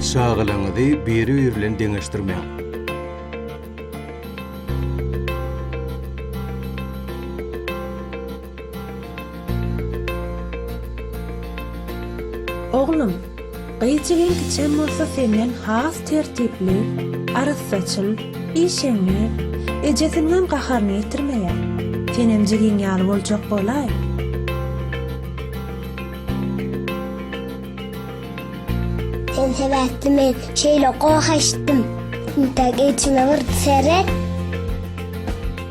Çagalaryňyzy biri-biri bilen deňeşdirmäň. Oglum! Gyz jigim kiçem bolsa senden has tertipli, arassaçyl, işeňňi, ejesiniňem gaharyny ýetirmeýär. Senem jigiň ýaly boljak bolaý. Sen sebäpli men şeýle goh eşitdim. Intäk içiňe bir seret.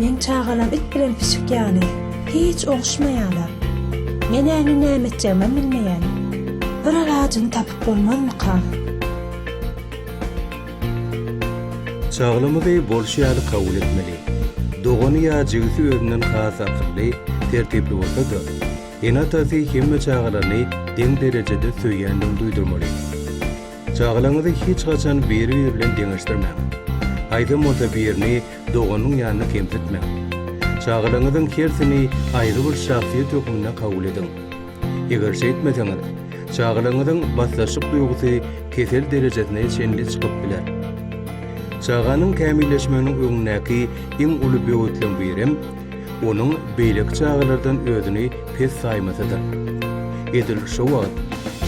Meň çagalam it bilen pişik ýaly, hiç oguşmaýarlar. Men-ä indi näme etjegimem bilmeýän. Bir alajyny tapyp bolmazmyka? Çagalymyzy bolşy ýaly kabul etmeli. Dogany ýa jigisi özünden has akylly, tertipli bolsa-da, ene-atasy hemme çagalaryny deň derejede söýýändigini duýdurmaly. Çagalaňyzy hiç haçan biri-biri bilen deňeşdirmäň. Aýdym bolsa birini doganyň ýanyna kemsitmäň. Çagalaňyzyň hersini aýry bir şahsyýet hökmünde kabul ediň. Eger şeýtmeseňiz, çagalaňyzyň basdaşlyk duýgusy kesel derejesine çenli çykyp biler. Çaganyň kämilleşmeginiň öňündäki iň uly böwetleň birem Onuň beýleki çagalardan özüni pes saýmasa-da, edil şo wagt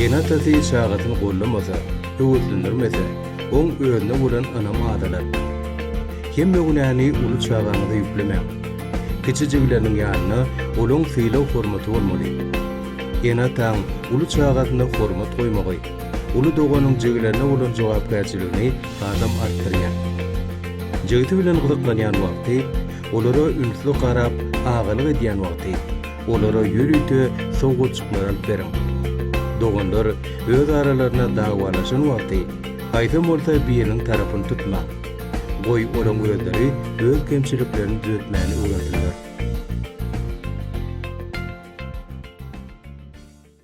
ene-atasy çagasyny gollamasa, höweslendirmese, oň özüne bolan ynamy azalar. Hemme günäni uly çagaňyza ýüklemäň. Kiçijigleriniň ýanyna olaň sylag-hormaty bolmaly. Ene-ataň uly çagasyna hormat goýmagy, uly doganyň jigilerine bolan jogapkärçiligini hasam artdyrýar. Jigsi bilen gyzyklanýan wagty, Olara ünsli garap, agalyk edýän wagty, olara ýörite sowgatjyklar alyp beriň. Doganlar öz aralaryna dawalaşan wagty, haýsam bolsa biriniň tarapyny tutmaň. Goý, olaň özleri öz kemçiliklerini düzetmäni öwrensinler.